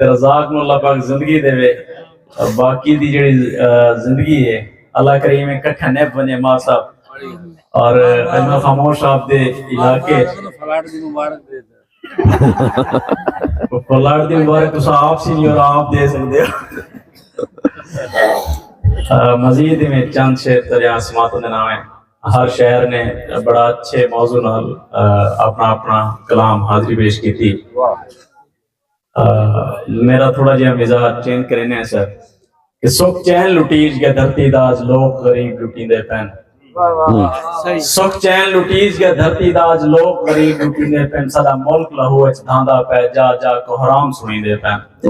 تے رزاق نو اللہ پاک زندگی دے وے اور باقی دی جڑی زندگی ہے اللہ کریم ایک کٹھا نیپ بنے ماں صاحب اور اجمہ خاموش صاحب دے علاقے فلاٹ دی مبارک دے فلاٹ دی مبارک تو آپ سی نہیں اور آپ دے سکتے مزید میں چند شہر ترے آسمات دے نام ہیں ہر شہر نے بڑا اچھے موضوع نال اپنا اپنا کلام حاضری پیش کی تھی میرا تھوڑا جہاں مزاج چینج کرینے ہیں سر کہ سکھ چین لٹیج کے دھرتی داز لوگ غریب لٹی دے پین سکھ چین لٹیج کے دھرتی داز لوگ غریب لٹی دے پین سارا ملک لہو اچ دھاندا پہ جا جا کو حرام سنی دے پین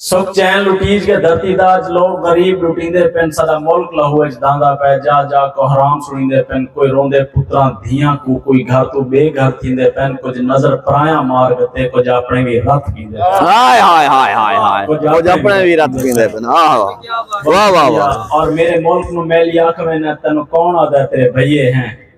سکھ چین لٹیج کے دھرتی دا اج لوگ غریب لٹیندے پن ساڈا ملک لہو اچ داندا پے جا جا کوہرام سنیندے پن کوئی روندے پتراں دھیاں کوں کوئی گھر تو بے گھر تھیندے پن کچھ نظر پرایاں مار گتے کچھ اپنے وی رت پیندے پن ہائے ہائے ہائے ہائے ہائے کچھ اپنے وی رت پیندے پن آہ واہ واہ واہ اور میرے ملک نو میلی آکھ وینا تینو کون آدھا تیرے بھئیے ہیں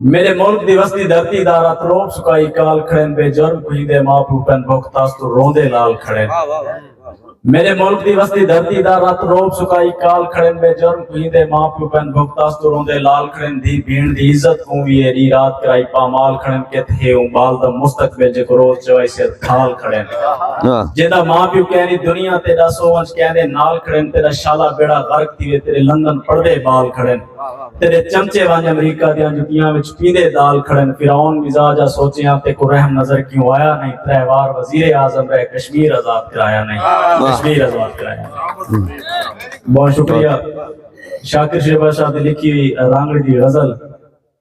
میݙے ملک دی وسدی دھرتی دا رت روب سکائی کال کھڑن بے جرم کھیندے ماں پو پن بھوک تاس تو روندے لال کھڑن میݙے ملک دی وسدی دھرتی دا رت روب سکائی کال کھڑن بے جرم کھیندے ماں پو پن بھوک تاس تو روندے لال کھڑن دھی بھیݨ دی عزت کوں وی اے ڈی رات کرائی پامال کھڑن کت ہے اوں بال دا مستقبل جے کو روز چوائی سر کھال کھڑن جیندا ماں پیو کینی دنیا تیڈا سو ونج کیندے نال کھڑن تیڈا شالا بیڑا غرق تھیوے تیرے لندن پڑدے بال کھڑن تیرے چمچے وانج امریکہ دیاں جتیاں وچ پیندے دال کھڑن فرعون مزاجا سوچیاں تے کو رحم نظر کیوں آیا نہیں ترے وار وزیر اعظم رہے کشمیر آزاد کرایا نہیں کشمیر آزاد کرایا بہت شکریہ شاکر شیبا شاہ دی لکھی ہوئی رانگڑی دی غزل